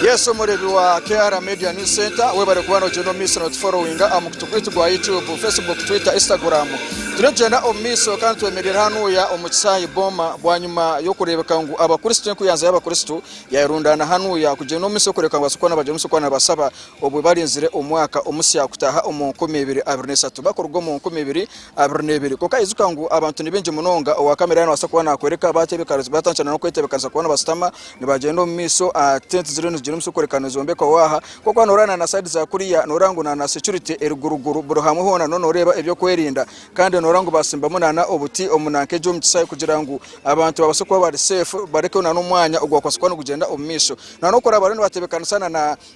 Yes omurebi wa KR media news center webare kuba nogyenda omu maiso notuforowinga aha mukutu gwaitu gwa YouTube, Facebook, Twitter, Instagram. Turikugyenda omu maiso kandi twemereire hanuuya omu kishaayi booma bwanyima y'okureebeka ngu abakristo enkuyanza y'abakristo yayerundaana hanuuya kugyenda omu maiso kureebeka ngu bakristo nibagyenda omu maiso kuba nibashaba obwe barinzire omwaka omusya kutaaha omu nkumi ibiri abiri na esatu bakuruga omu nkumi ibiri abiri n'ebiri. Kwonka ijuka ngu abantu ni baingi munonga, owa kamera yaabaasa kuba naakworeka baatebekaniza, baatandikira n'okwetebekanisa kuba nibashutama nibagyenda omu maisho. Tenti ziriyo nizigira omutsyo kworeka nizombekwaho aha. Kwonka waaba nooreeba na saidi za kuriya nooreeba ngu na securite eri guruguru. Buri hamwe hoona nooba nooreeba eby'okwerinda. Kandi nooreeba ngu baatsimbamu n'obuti nk'egyo omu kishaayi kugira ngu abantu babaase kuba bari safe, barekeho n'omwanya ogu baakubaasa kuba nigugyenda omu maisho. N'oku bariyo nibatebeekanisa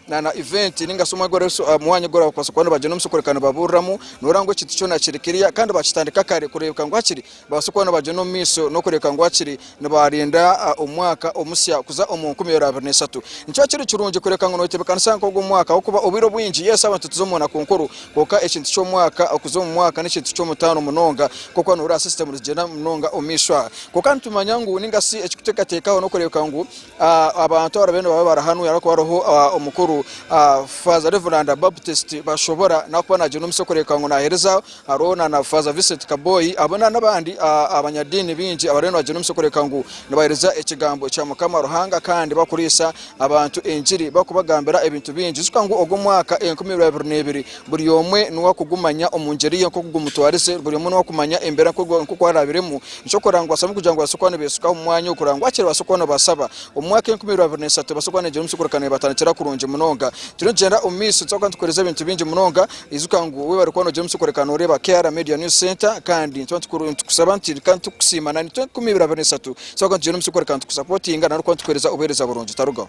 na event ninga shi omwanya ogu oraabaasa kuba noobagyenda omu kikureeka nibabuuriramu nooreeba ngu ekintu kyona kiri clear kandi baakitandika kare kureebeka ngu hakiri nibabaasa kuba nibagyenda omu maisho n'okureebeka ngu hakiri nibaarinda omwaka omusya kuza omu nkumi ibiri abiri n'eshatu nikyo kiri kirungi kureebeka ngu nooyetebeekanisa nk'ogwo mwaka ahabw'okuba obwire obwingi yes abantu nituza omu naku nkuru kwonka ekintu ky'omwaka okuza omu mwaka n'ekintu ky'omutaano munonga nk'oku nooreeba system nizigyenda munonga omu maisho aha kwonka nitumanya ngu ninga shi ekikuteekateekaho n'okureebeka ngu Abantu abari bariyo nibaba barahanwe ahabw'okuba hariho omukuru Faaza Reveranda Baptist Bashobora n'ahakuba naagyenda omu misyo kureebeka ngu naaheereza. Hariho na Faaza Vincent Kaboyi hamwe n'abandi abanyadiini baingi abariyo nibagyenda omu misyo kureebeka ngu nibaheereza ekigambo kya Mukama Ruhanga kandi barikuriisa abantu engiri barikubagambira ebintu bingi. Ijuka ngu ogwo omwaka enkumi ibiri abiri n'ebiri Buri omwe niwe akugumanya omu ngyeri ye nk'oku gumutwarize, buri omwe niwe akumanya embeera nk'oku araabiremu. Nikyo kurora ngu bashabwe kugira ngu babaase kuba nibeesukaho omu mwanya ogu kurora ngu hakiri babaase kuba nibasaba. Omu mwaka enkumi ibiri abiri na isatu nibabaasa kuba nibagira omusiguurakano nibatandikira kurungi munonga. Turiyo nitugyenda omu maisho nitubaasa kuba nitukuheereza ebintu bingi munonga. Ijuka ngu waaba ori kuba noogira omusiguurakano oreeba KR Media News Centre kandi nituba nitukusaba nti kandi tukusiima na itwe enkumi ibiri abiri na isatu nitubaasa kuba nitugyenda omu musiguurakano tukusapotinga nari kuba nitukuheereza obuheereza burungi. Tarugaho.